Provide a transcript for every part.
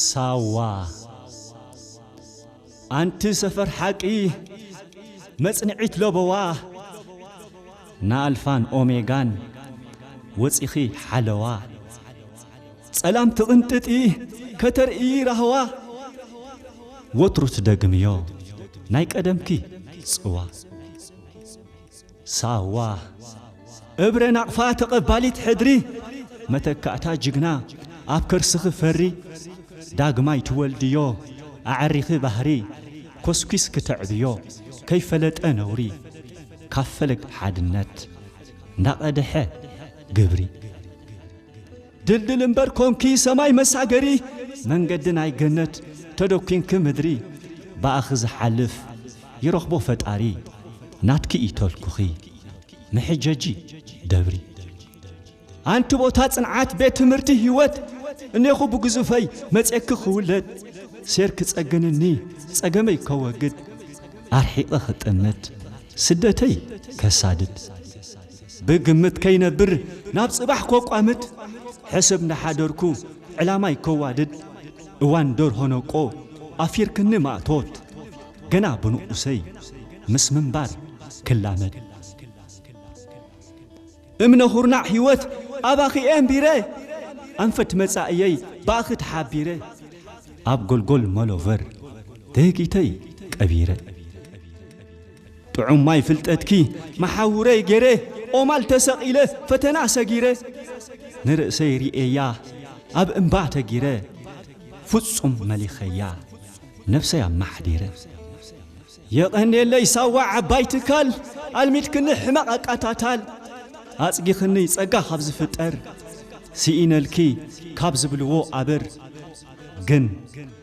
ሳዋ ኣንቲ ሰፈር ሓቂ መጽንዒት ለበዋ ንኣልፋን ኦሜጋን ወጺኺ ሓለዋ ጸላም ትቕንጥጢ ከተርእዪ ራህዋ ወትሩ ትደግምዮ ናይ ቀደምኪ ጽዋ ሳዋ እብረ ናቕፋ ተቐባሊት ሕድሪ መተካእታ ጅግና ኣብ ከርስኺ ፈሪ ዳግማይ ትወልድዮ ኣዐሪኺ ባህሪ ኮስኲስኪ ተዕብዮ ከይፈለጠ ነውሪ ካብ ፈለግ ሓድነት እንዳቐደሐ ግብሪ። ድልድል እምበር ኮንኪ ሰማይ መሳገሪ መንገዲ ናይ ገነት ተደኲንኪ ምድሪ ብኣኺ ዝሓልፍ ይረኽቦ ፈጣሪ ናትኪ እዩ ተልኩኺ መሕጀጂ ደብሪ ኣንቲ ቦታ ጽንዓት ቤት ትምህርቲ ህይወት እኔኹ ብግዙፈይ መጼኪ ክውለድ ሴር ክጸግንኒ ጸገመይ ከወግድ ኣርሒቐ ክጥምት ስደተይ ከሳድድ ብግምት ከይነብር ናብ ጽባሕ ኮቋምት ሕስብ ናሓደርኩ ዕላማይ ከዋድድ እዋን ደርሆ ነቆ ኣፊርክኒ ማእቶት ገና ብንኡሰይ ምስ ምንባር ክላመድ እምነ ኩርናዕ ሂወት ኣባኺ ኤንቢረ ኣንፈት መጻኢየይ ባእኺ ተሓቢረ ኣብ ጎልጎል መሎቨር ደጊተይ ቀቢረ። ጥዑም ማይ ፍልጠትኪ መሓውረይ ገይረ ኦማል ተሰቒለ ፈተና ሰጊረ ንርእሰይ ርእየያ ኣብ እምባ ተጊረ ፍጹም መሊኸያ ነብሰይ ኣማሓዲረ የቐንየለይ ሳዋ ዓባይ ትካል ኣልሚድክኒ ሕመቕ ኣቃታታል ኣጽጊኽኒ ጸጋ ካብ ዝፍጠር ስኢነልኪ ካብ ዝብልዎ ኣብር ግን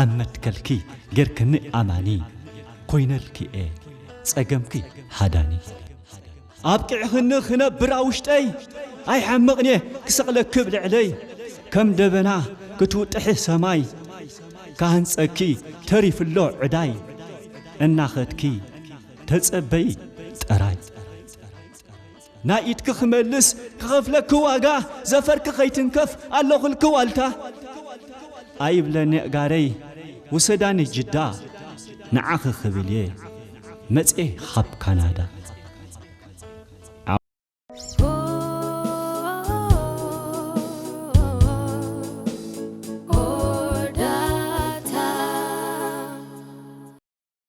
ኣብ መትከልኪ ጌርክኒ ኣማኒ ኮይነልኪ እየ ጸገምኪ ሃዳኒ። ኣብቂዕኽኒ ክነብር ኣብ ውሽጠይ ኣይሓምቕን'የ ክሰቕለኪ ብ ልዕለይ ከም ደበና ክትውጥሒ ሰማይ ክሃንጸኪ ተሪፉ'ሎ ዕዳይ እናኸድኪ ተጸበዪ ጥራይ። ናይ ኢድኪ ክመልስ ክኸፍለኪ ዋጋ ዘፈርኪ ከይትንከፍ ኣለኹልኪ ዋልታ ኣይብለኒ ኣእጋረይ ውሰዳኒ ጅዳ ንዓኺ ክብል'የ መጽየ ኻብ ካናዳ።